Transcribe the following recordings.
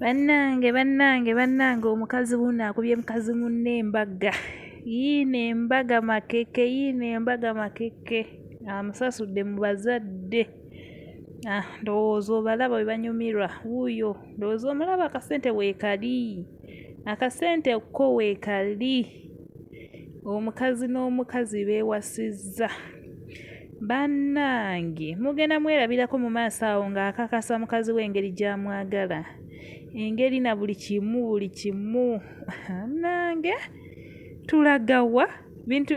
Bannange bannange bannange omukazi wuuno akubye mukazi munne embagga yiino embaga makeke yiino embaga makeke amusasudde mu bazadde ah ndowooza obalaba bwe banyumirwa wuuyo ndowooza omulaba akasente weekali akasente ko weekali omukazi n'omukazi beewasizza. Bannange mugenda mwerabirako mu maaso awo ng'akakasa mukazi we engeri gy'amwagala, engeri na buli kimu buli kimu. Bannange tulaga wa? Bintu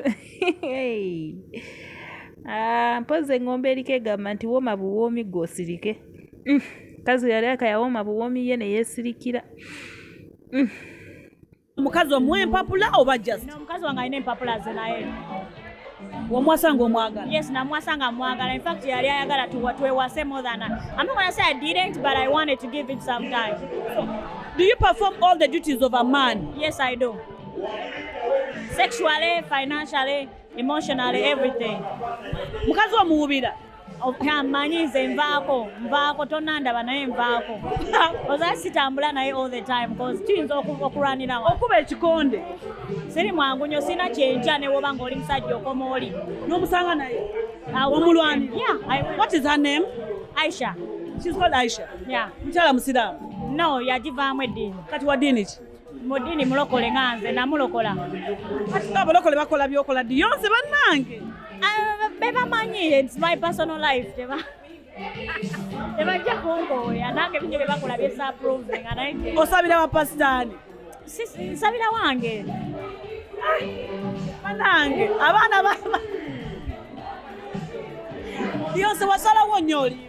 ah, mpozzi eng'ombe eriko egamba nti wooma buwoomi gwe osirike. Mm, mukazi yali akayawooma buwoomi ye ne yeesirikira. Mm. omukazi omuwa empapula oba just omukazi wange alina empapula ze naye wamwasa nga omwagala yes namwasa nga mwagala in fact yali ayagala twewase more than i'm not gonna say i didn't but i wanted to give it some time do you perform all the duties of a man yes i do sexually financially emotionally everything mukazi omuwubira manyi nze nvaako nvaako tonandaba naye nvaako oza sitambula naye all the time bcause tuyinza okulwanirawo okuba ekikonde siri mwangu nyo sirina kyenkya newoba ngaoli musajja okoma oli nomusanga naye omulwani what is her name aisha she's called aisha yeah mukyala musiraamu no yagivaamu eddiini kati wa ddiini ki mudini mulokole nga nze namulokola atika abalokole bakola byokola ddi yonse bannange ah, bebamanyi its my personal life teba tebajja kunkooya nange binyo byebakola byesaprove nga naye osabira bapasitaani nsabira wange banange abaana yonse wasalawo nyoli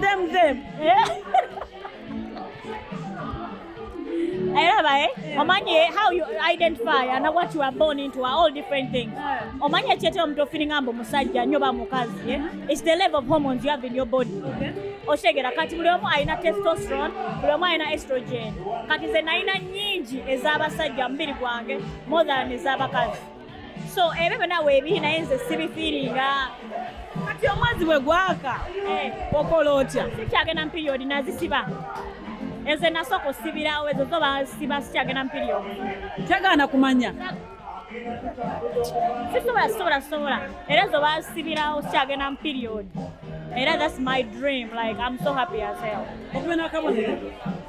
them them eh? Elaba, eh? Omanye how you identify and what you are born into are all different things. Omanye chete omuntu feeling ambo musajja nyo ba mukazi, eh? It's the level of hormones you have in your body. Okay. Oshegera kati buli omu alina testosterone, buli omu alina estrogen. Kati ze nalina nyingi ez'abasajja mubiri gwange more than ez'abakazi. so ebyo byona weebiri naye nze sibifiiringa kati omwezi bwe gwaka eh. okola otya sikyagenda mu piriyodi nazisiba ezo enasooka osibirawo ezo zo basiba sikyagenda mu piriyodi tegaana kumanya sisobola sisobola sisobola era ezo basibirawo sikyagenda mu piriyodi era that's my dream like i'm so happy as hell